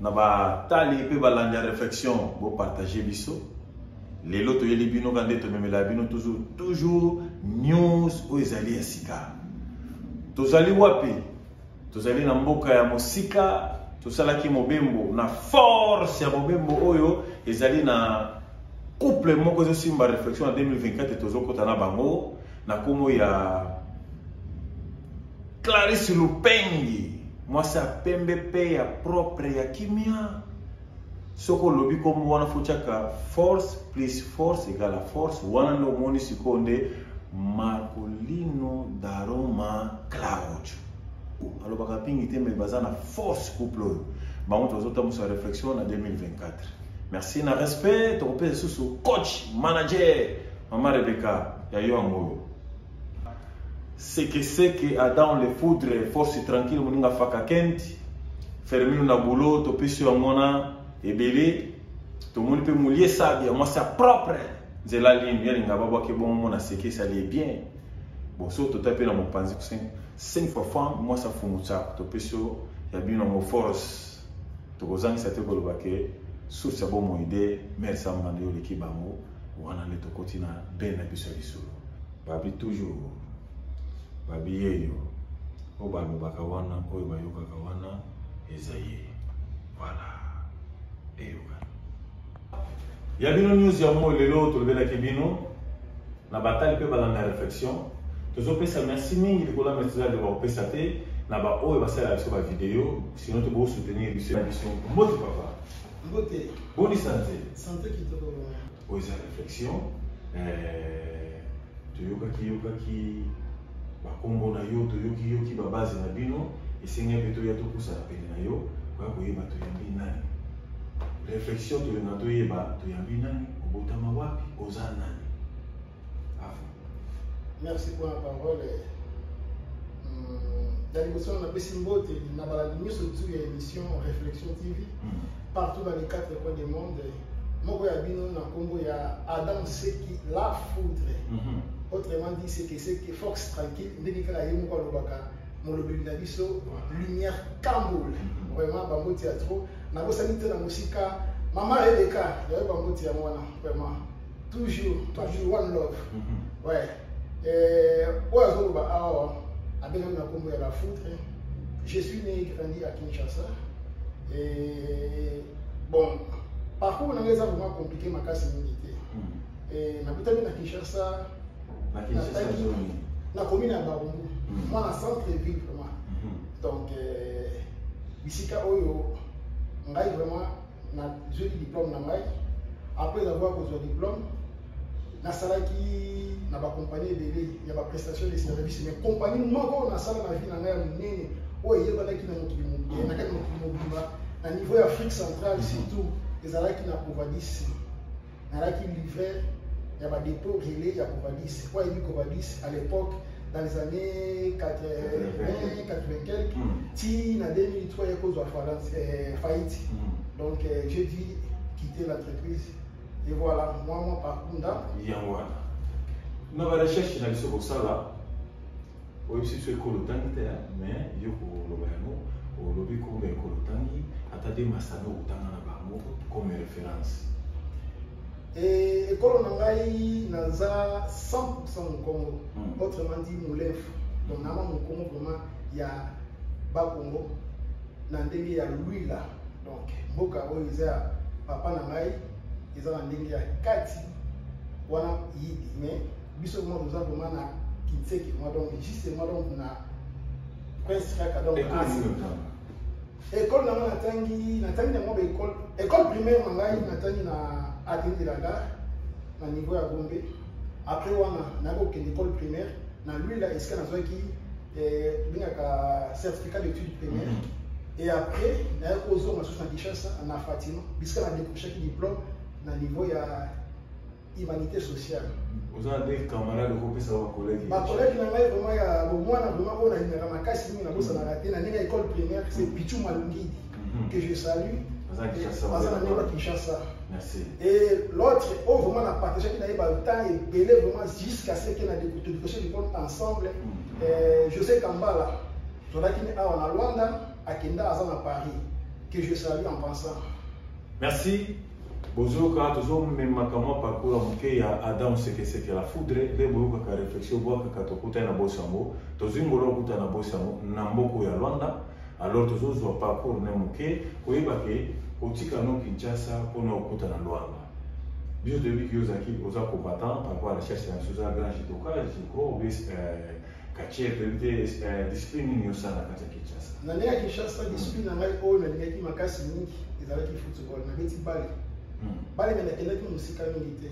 na batali mpe balandi ya réflexion bopartage biso lelo toyeli bino ka nde tomemela bino toujours toujours news oyo ezali ya sika tozali wapi tozali na mboka ya mosika tosalaki mobembo na force ya mobembo oyo ezali na couple moko ezosimba réflexion na 2024 tozokota na bango na kombo ya Clarisse Lupengi mwasi ya pembe pe ya propre ya kimia soki olobi kombo wana fotyaka force plus force egala force wana nde omoni sikoyo nde marcolino daroma claudio alobaka pingi te me baza na force couple oyo bango tozotambusa réflexion na 2024 Merci na respect tokopesa lisusu coach manager mama Rebecca ya yo yango oyo sekeseke adam le foudre force tranquille moninga faka kent fermino na boulot topesi yango na ebele tomoni mpe molie sabi ya mwasi ya propre nzela lini yalinga babwaki bongo mona sekesi alie bien bon so tota mpe na mopanzi 5 fois femme mwasi afumutsaka topesi yo ya bino yango force tokozangisa te koloba ke source ya bomoi de mare samba nde oleki bango wana nde tokoti na bene na biso ya lisolo babi toujours babi yeyo oyo balobaka wana oyo bayokaka wana eza ye voilà eyokana ya bino news yango lelo tolobelaki bino na batali mpe balanda ya réflexion tozopesa merci mingi likolo ya maitre zali bakopesa te na baoyo basalaka biso bavideo sino te bosoutenir biso ya biso mbote papa mbote boni sante sante kitoko oyo eza réflexion eh, toyokaki yokaki bakombo na yo toyoki yoki babaze na bino esengeli mpe toya topusana pene na yo koya koyeba toyambi nani Reflexion tolinga toyeba toyambi nani obotama wapi oza nani afa merci mpo na parole na hmm, liboso napesi mbote na balandi nyonso tu ya émission réflexion tv hmm. partout dans les quatre coins du monde moko ya bino na nkombo ya adam seki la foudre hmm. autrement dit sekeseke fox tranquille ndenge kaka ye moko alobaka molobeli na biso lumière kambol mhm. vraiment bamboti ya trop nabosani te na mosika mama eleka yayo bamboti yango wana vraiment toujours toujours one love mhm. ouais eh, oyo azoloba awa abengami na nkombo ya la foutre je suis né grandi à kinshasa et bon parcours na ngai eza vraiment compliqué makasi mingi te mhm. eh, nabutami na kinshasa na komi na bango mhm. mwana centre ville vraiment mhm. donc euh, bisika oyo ngai vraiment nazweli diplôme na ngai après avoir kozwa diplôme nasalaki na bacompagnie ebele ya baprestation de service mais compagnie moko nasala na vie na ngai ya monene oyo eyebanaki na mokili mobimba na kati mokili mobimba na niveau ya afrique centrale surtout ezalaki na covadis nalaki livret ya ba dépôt relais ya Covadis po ayebi Covadis à l'époque dans les années 80 80 quelques hmm. ti na 2003 ya kozwa euh, faillite hmm. donc euh, j'ai dit quitter l'entreprise et voilà moi moi par kunda yango wana na ba recherche na biso kosala oyebisi biso ekolo otangi te mais yo koloba yango olobi kombe ekolo otangi ata de masano okotanga na bango comme référence ekolo na ngai naza 100 mokongo hmm. autrement dit molefu donc nama mokongo vraiment ya bakongo na ndenge ya luila donc mboka oyo eza ya papa na ngai eza na ndenge ya kati wana yidi mais biso mwa toza vraimen na kinseki mwa donc juste mwa donc na prince kaka donc ekole nango natangi natangi na mwa baekole ekole primaire na ngai natangi na ateni de la gare na niveau ya gombe après wana nayoki kokende ekole primaire na lwila esika nazwaki eh, bengaka certificat d'étude primaire mhm. et après nayoki kozonga susu na kinshasa na fatima bisika na décrochaki diplôme na niveau ya humanité sociale oza na ndenge camarade okopesa bakolege bakolege na ngai vraimen ya bomwana vraimen oyo nalingaka makasi mingi nabosanaka te na ndenge ya école primaire c'est mhm. pichu malungidi mhm. que je salue aza na ndenge ya kinshasa et l'autre oyo vraimen na partagaki na ye batemps ebele vraimen jusqu'à ce que na todikoso likolo ensemble mhm. euh, josé kambala tozalaki ne awa na luanda akenda aza na paris que je salue en pensant merci bozoyoka tozomemaka mwa parcours ya moke ya adam sekeseke la foudre nde boyokaka réflexion bwakaka tokutani na bosi yango tozwi ngolo okuta na bosi yango na mboko ya lwanda alors tozozwa parcours ne moke koyeba ke kotika no kinshasa mpona okuta na lwanda biso toyebi ki ozalaki oza combattant par rapport à la chasse ya biso oza grand judoka jiko obes Kache, toyebi te eh, discipline nini osala kati ya Kinshasa? Na ndenge ya Kinshasa, discipline na ngai oyo nalingaki makasi mingi ezalaki football. Nabeti bale. Hmm. Bale me nakendaki mosika mingi te.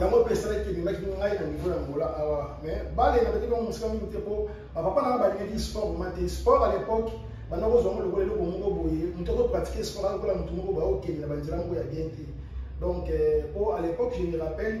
yango mpe esalaki ememaki ngai na niveau ya ngola awa mais bale nabeti bango mosika mingi te mpo bapapa na ngai balingaki sport vraimen te sport à l'époque banda kozwa ngo lokola eloko moko boye moto akopratique sport akokola moto moko baokende na banzela moko ya bien te donc mpo euh, à l'époque je me rappelle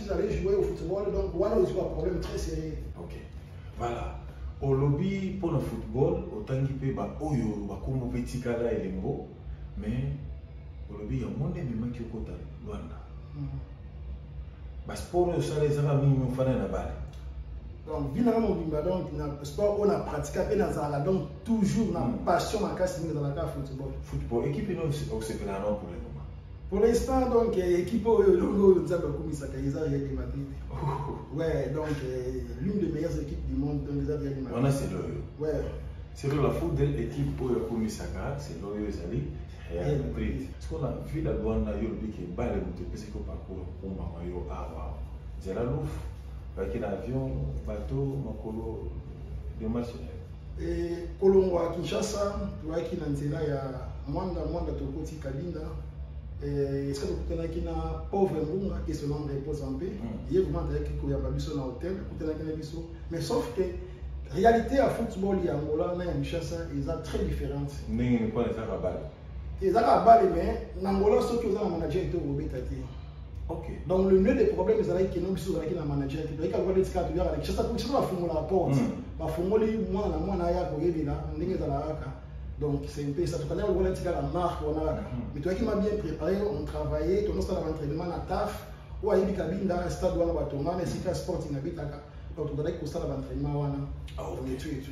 j'avais joué au football donc wana ozwi ba problème très sérieux ok voilà olobi mpo na football otangi mpe baoyo bakombo mpe etikala elembo mais olobi yango nde ememaki okota lwanda hmm. basport oyo osala ezaka mingi ofana na bale donc vie nanga mobimba donc na sport oyo na pratika mpe nazalaka donc toujours na hmm. passion makasi mingi ezalaka football football équipe ino osepela na pour le moment Pour l'instant, donc, euh, équipe oyo lolo nzambe akumisaka eza Real de Madrid. Oh. Ouais, donc euh, l'une des meilleures équipes du monde donc eza Real de Madrid. Wana c'est loyo. Ouais. C'est la foudre équipe oyo akumisaka, c'est loyo ezali Real Madrid. Ce qu'on a vu la Luanda yo lobi ke bale moto epesi ko parcours kumba mayo awa. Zela luf, baki na avion, bateau, makolo, des machines. E, kolongwa Kinshasa toyaki na nzela ya Mwanda Mwanda tokoti Kabinda Eh, esika tokutanaki na pauvre mbunga et son âme repose en paix mm. ye vraiment azalaki koyamba biso na hotel akutanaki na biso mais sauf que réalité ya football ya angola na ya kinshasa eza très différente ndenge nini mpona ezaka bale eza kaka bale mais na ngola soki oza na manager te okobeta te Okay. Donc le nœud des problèmes ezalaki kino biso ozalaki na manager te toyika lokola neti kaka toyaka na kishasa po kishasa bafungolaka porte hmm. bafungoli mwana na mwana aya koyebela ndenge ezalaka kaka donc c'est un peu ça tokandaka lokola neti kaka marque wana kaka hmm. mais toyaki ma bien préparé on travaillait tonosala baentrainement na taf oyo ayebi kabinda stade wana batonga na esika sporting abetaka donc tozalaki kosala baentrainement wana ah, on étue et tout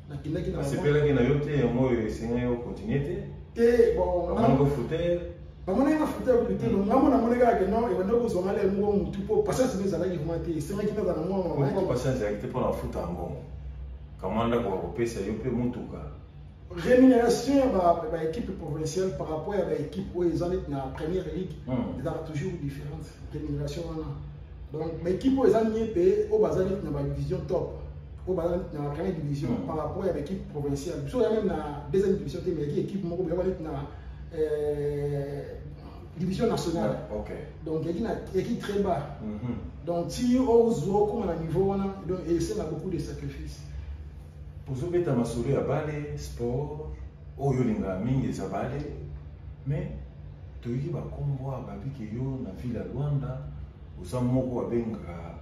nakendaki na sepelaki na yo te yango oyo esengaki yo continue te te bonamoni ofute namonaki na fute yakuli te mm. ngambo namoni kaka ke non ebanda kozwa ngai lelo moko motu mpo patience nde ezalaki vrima te esengaki nazala na mwana patience ezalaki te mpo na futa yango kama ndako bakopesa yo mpe motuka rémunération ya baéquipe provinciale par rapport ya baéquipe oyo eza neti na première ligue hmm. ezalaka toujours différence rémunération wana donc baekipe oyo eza miepe oyo bazali na badivision top oyo bazali na grande division hmm. par rapport ya baekipe provinciale biso ya meme na deuxième division te mais ekipe moko boyaka neti na euh, division nationale donc eki na eki très bas mhm. donc ti ozwa okoma na niveau wana donc esenga beaucoup de sacrifice ozobeta masolo ya bale sport oyo olingaka mingi eza bale mais toyoki bakombo awa babi ke yo na ville ya luanda oza moko babengaka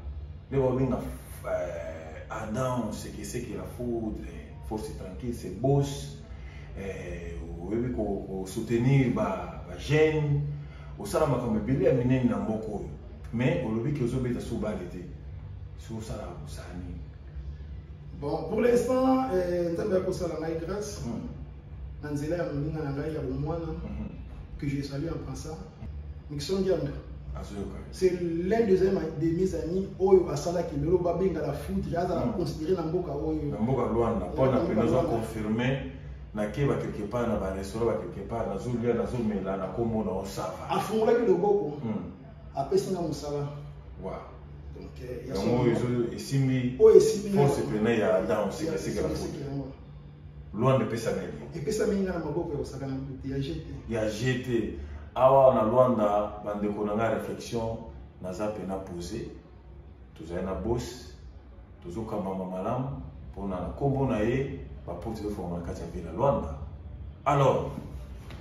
nde babenga eh, adam sekeseke la foudre force tranquille se bos eh, oyebi kosoutenir bajeune osala makambo ebele ya minene na mboka oyo mais olobi ke ozobeta so bale te so osalaka kosala nini bon pour l'instant eh, nzambe akosala ngai grâce hmm. na nzela ya moninga na ngai ya bomwana mhm. que je salue en passant Nixon Dianda c'est l'un des, de mes amis oyo asalaki lelo babenga la foot azala mm. considéré na mboka oyo na mboka lwanda mpo na mpe naza confirme nakeba quelque part na barestaurant ba quelque part nazolia nazomela nakomona osava afungolaki loboko mm. apesi nga mosala yango esimbi force pene ya danse kasekela foot Luanda epesami ye. Epesami nga na maboko ya kosaka na mbuti ya GT. Ya GT. Awa na Luanda bandeko na nga réflexion naza pe na pose. Tozali na boss tozokambama malamu mpona na nkombo na ye baporte ezofongama na kati ya ville ya Luanda. Alors,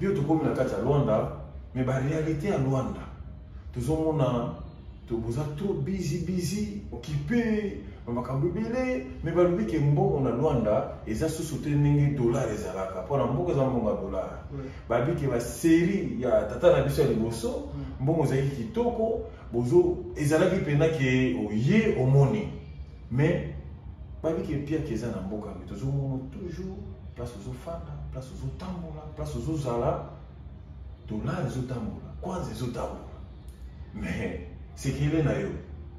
bio tokomi na kati ya Luanda, mais ba réalité ya Luanda tozomona toboza trop busy busy occupé na makambo ebele me balobi ke mbongo na lwanda eza susu te ndenge dollar ezalaka mpo na mbongo eza mbongo ya dollar babi ke baserie ya tata na biso ya liboso mm. mbongo ezalaki kitoko bozo ezalaki mpena ke oye omoni me babi ke mpiake eza na mboka me tozomona toujours place ozofanda place ozotambola place ozozala dollar ezotambola kwanza ezotambola mais sekele na yo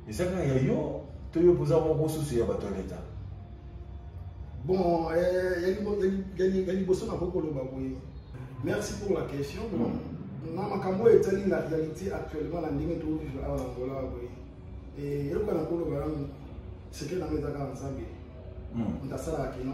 eza kaka ya yo to yo mpoza moko susu ya bato ya leta bon eh, ya liboso nakoki koloba boye merci pour la question hmm. na makambo oyo etali na réalité actuellement na ndenge tokokivre awa na angola boye eh, eyoka na koloba yango sekele nango eza kaka nzambe moto hmm. asalaka kino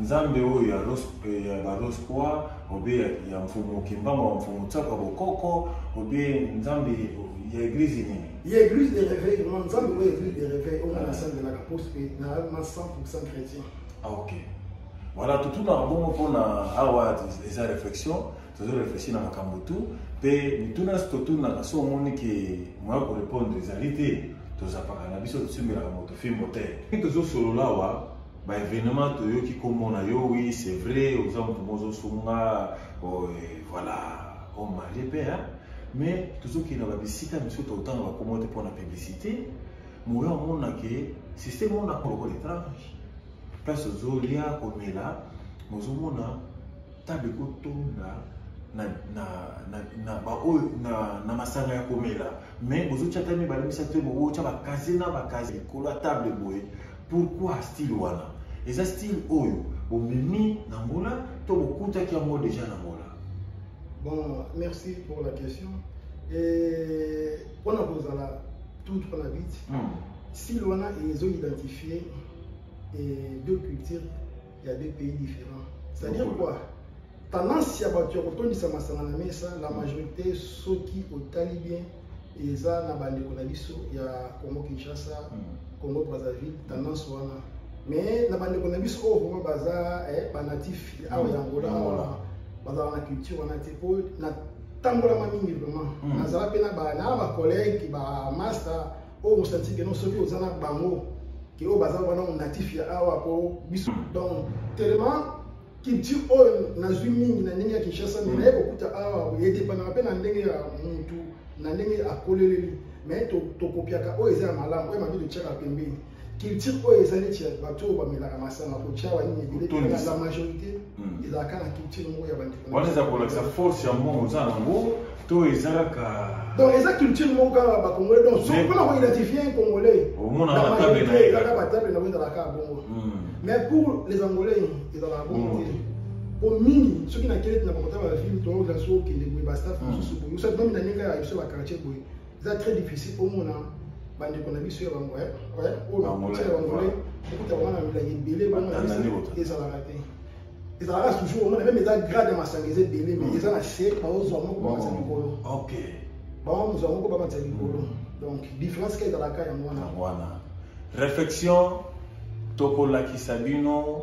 Nzambe oyo ya Ros eh, ya ba Ros kwa obe ya, ya mfumu Kimbama wa mfumu Tsaka Bokoko obe Nzambe ya eglise nini? Ya eglise de réveil vraiment Nzambe oyo eglise de réveil oyo na sangelaka poste pe na ma 100% chrétien. Ah OK. Voilà tout tout na bongo pona awa eza réflexion tozo réfléchir na makambo tout pe mituna totuna na so omoni ke moya ko répondre ezali te tozapaka na biso tosimbelaka moto fimbo te tozosolola awa ba événement toyoki kombo na yo oui c'est vrai oza moto mozo sunga oh, voilà o marie mpe hein? mais tozokende na babisika misusu totanga bakombo te mpo na publicité moya omona ke système ona lokola étrange place ozolia komela mozomona table ekotonda na, na, na, na, baoyo, na, na masanga ya komela mais bozotya ta mibale misato te bokotya bakaze na bakaze likolo ya table boye Pourquoi style wana? Eza style oyo bomemi na Angola to bokutaki yango deja na Angola? Bon, merci pour la question. Et on a posé la toute la vite. Mm. Si l'on a, ils ont identifié et deux cultures Il y a deux pays différents. C'est-à-dire quoi Tendance ya bato ya kotondisa masanga na mesa, la majorité soki otali bien eza na bandeko na biso ya Congo Kinshasa, hmm. Congo Brazzaville, tendance wana. Mais na bandeko na biso oyo vraiment baza eh, ba natif awa ya Angola wana bazala na culture wana te mpo natambolama mingi vraiment hmm. nazala mpe na ba collègue ba master oyo mosanti keno soki oza na bango ke oyo baza wana natif ya awa po biso donc telema culture oyo nazwi mingi na ndenge ya kinshasa me naye kokuta awa edepanaka mpe na ndenge ya mutu na ndenge akoleleli me tokopiaka oyo eza ya malamu oyo mabe totyaka pembeni culture oyo eza neti ya bato oyo bamelaka masanga kotiawa nini ebele la majorité hmm. ezalaka na culture moko ya bandeko wana eza kolakisa force ya mbongo oza nango to eza kaka donc eza culture moko kaka bacongolais donc soki mpona koidentifie un congolais omonaka batable na ye kaka batable na yango ezalaka bongo hmm. mais pour les angolais ezalaka bongo te hmm. po mingi soki na keleti na bakotala bafilme toyokela soki okende boye bastaff mosusu boye osati nomi na ndenge ya biso bakartier boye eza très difficile omona bandeko na biso ya bangolais eh, oyo ya bangolais okuta bango na milangi ebele ezalaka te ezalaka toujours omona meme eza grade ya masanga eza ebele mais hmm. eza na se baozwa moko bamatisa oh, likolo bango mozwa moko bamatisa likolo hmm. donc différence ka ezalaka yango wana réflexion tokolakisa bino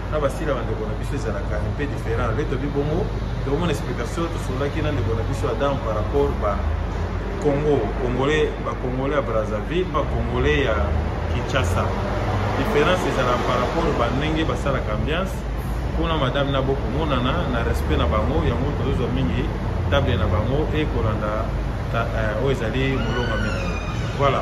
na basila bandeko na biso ezalaka un peu différent le tobi bongo tokomona explication tosololaki na ndeko na biso adam par rapport ba congo congolais bacongolais ya brazzaville bacongolais ya kinshasa différence ezalaka par rapport ba ndenge basalaka ambiance mpona madame na bokomonana na respect na bango yango tozozwa mingi table na bango ekolanda eh, oyo ezali molonga mingi voilà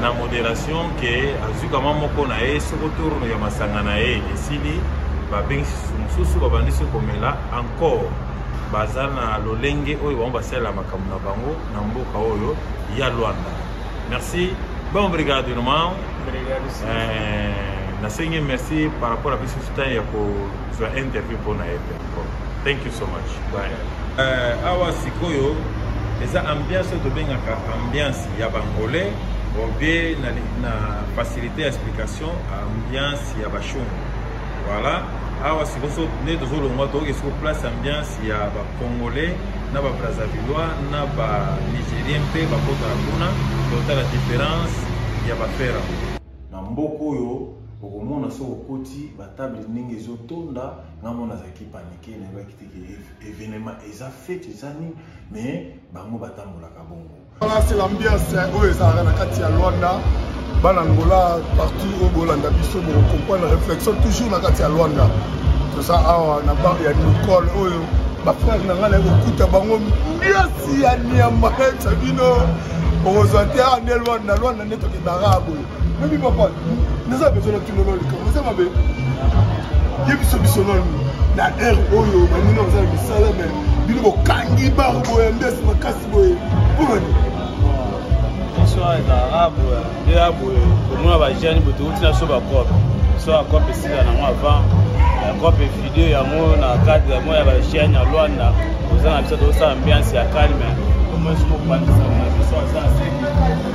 na moderation ke azwi kama moko na ye soko tourno ya masanga na ye esili babengisi mosusu babandisi komela encore baza na lolenge oyo bango basalela makambo na bango na mboka oyo ya lwanda merci bon brigade irmao eh, nasengi merci par rapport na biso ntango ya kozwa interview mpo na ye Thank you so much. Bye. Uh, awa sikoyo eza ambiance oyo tobengaka ambiance ya bangolais obie na, na facilité ya explication ambiance ya bashungu voilà awa sikoso nde tozolongwa toyoki siko place ambiance ya bacongolais na babrazavillois na banigérien mpe bakotala kuna totala différence ya bafera na mboka oyo okomona soki okoti batable ndenge ezotonda nga mona azalaki panike nayebaki te evenema eza fete eza nini mais bango batambolaka bongo c'est l'ambiance eh, oyo ezalaka na kati ya lwanda bana angola partout oyo bolanda biso bokokomprendre réflexion toujours na kati ya lwanda toza awa na bar ya nicole oyo bafrere na ngai naye kokuta bango mbiasi ya niamba esa bino okozwa te awa nde lwanda lwanda nde tokendaka boye Mimi papa, naza besoin na kino na likambo eza mabe. Ye biso biso nanu na heure oyo bamini oza na misala me bino bokangi bar boye mbes makasi boye mpona nini biso ezalaka boye nde ya boye komona bajeune boye tokoti na so bacope so bacope esila nango avant bacope video yango na cadre yango ya bajeune ya lwanda oza na biso tokosala ambiance ya calme omoi sokobandisa na biso aza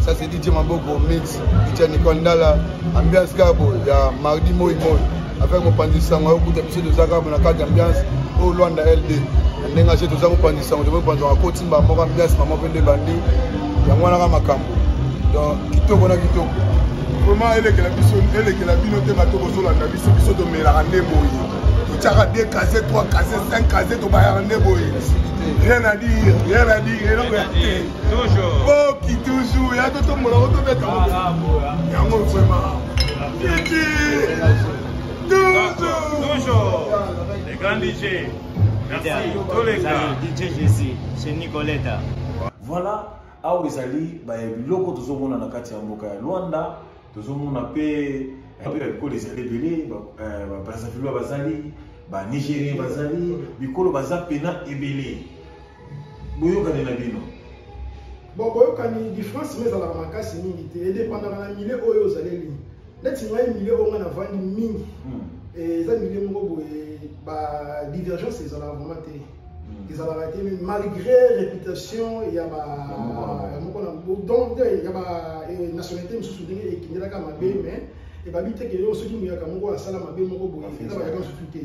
Ça c'est DJ Maboko Mix, DJ Nicole Ndala, ambiance kabo ya mardi moi moi. Avec mon pandi sango okuta biso de zaka na carte ambiance au Luanda LD. Ndenga je toza ko pandi sango de pandi wa koti mba moko ambiance mama pende bandi. Ya mwana ka makambo. Donc kitoko na kitoko. Vraiment elekela biso elekela bino te bato bozolanda biso biso tomelaka nde boye totyaka 2 case 3 case 5 case tobayaka nde boye rien à dire rien à dire eloko ya te boki toujours ya totombola ngo tobeta yango vrema kiti toujours le grand dj merci toleka dj jesi chez nicoleta voilà awa ezali biloko tozomona na kati ya mboka ya luanda tozomona mpe mpe eh, bikolo ezali ebele babrazavilois eh, bazali banigérien bazali bikolo baza pena ebele boyokani na bino bon boyokani difference me ezalaka makasi mingi te edepandaka na mile oyo ozaleli neti ngai mile oyo ngai navandi mingi hmm. eh, eza mile moko boye badivergence ezalaka vraiment te hmm. ezalaka te malgré réputation ya moko na donc ya banationalité eh, mosusu ndenge ekindelaka mabe hmm. mais ebabi te ke yo soki moyaka moko asala mabe moko boye eza bayaka mosusu te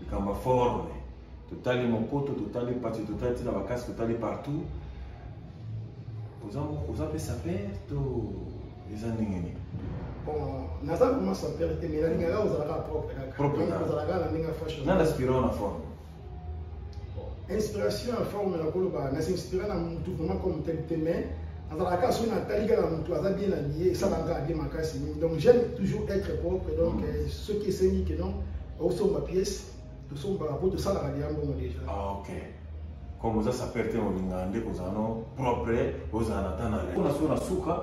likambo ya forme totali mokoto totali pati totali ntina bakasi totali partout oza mpe saper to eza ndenge nini naza vraimen saper te mai nalingaka ozalaka propre kakaozalaka na ndenge ya fashion na naspirao na forme inspiration ya forme na koloba nasinspira na motu vraiment comme tel te mais azalaka kaka soki natali kaka motu aza bien na lie esalaka kaka bien makasi donc j'aime toujours être propre donc mm. euh, soki esengi ke non osomba pièce tosombaka mpo tosalaka liya mbongo deja ah, ok comme oza sapeur te olingaka nde kozala no propre ozala na ta na le mpona so na suka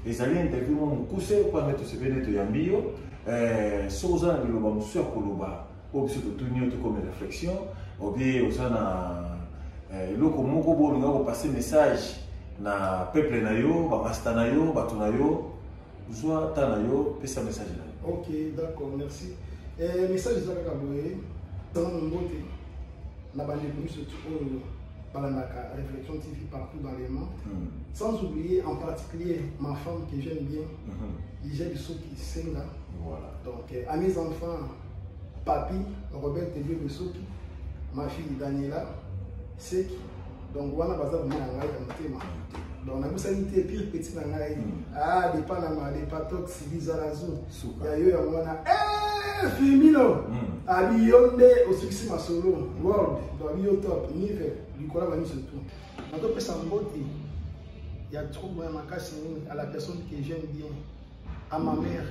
ezali interview mwa mokuse mpo nde tosepeli nde toyambi yo eh, soki oza na liloba mosusu ya koloba oyo biso totuni yo tokomi réflexion obie oza na eh, eloko moko bo olinga kopase message na peuple na yo bamasta na yo bato na yo zwa ta na yo pesa message na yo ok d'accord merci eh, message eza kaka boye tanga mombote na bandeko miso oyo balandaka réflexion tv partout dans le monde mm. sans oublier en particulier ma femme que j'aime bien mm -hmm. ija bisoki senga voilà. donc eh, à mes enfants papi robert tebio bisoki ma fille daniela seki donc wana baza bima na ngai ya motema donc nabosani te pire petit na ngai hmm. ah depanama depatox bizalazu ya yo yango wana eh, firmino hmm. abi yo nde osukisi masolo hmm. world donc abi yo top nive likola baniso tout natopesa mbote ya trouble ya makasi nini à la personne que j'aime bien à ma mère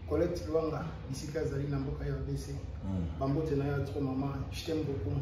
collecte luanga bisika azali na mboka ya rdc bambote na yo ya trop mama je t'aime beaucoup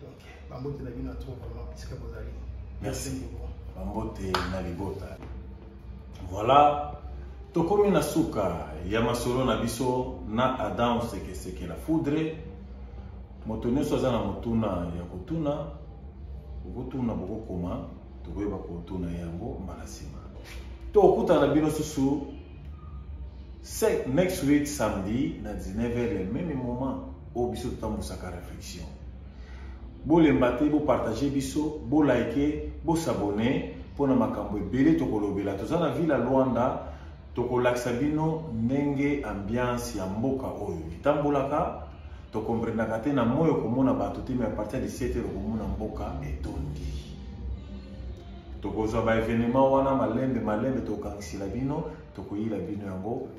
donc bambote na bino ya trop vraiment esika bozali merci beaucoup bambote na libota voilà tokomi na suka ya masolo na biso na adam sekeseke la foudre moto nyonso aza na motuna ya kotuna okotuna bokokoma tokoyeba kotuna yango mbala nsima tokutana bino susu next week samedi na 19 heure ya meme moment oyo biso totambusaka réflexion bolemba te bopartage biso bolike bosabone mpo na makambo ebele tokolobela toza na ville ya luanda tokolakisa bino ndenge ambiance ya mboka oyo etambolaka tokomprendaka te na moi okomona bato te mai apartir ya 17 heure okomona mboka etondi tokozwa baevenema wana malembe malembe tokokangisela bino tokoyila bino yango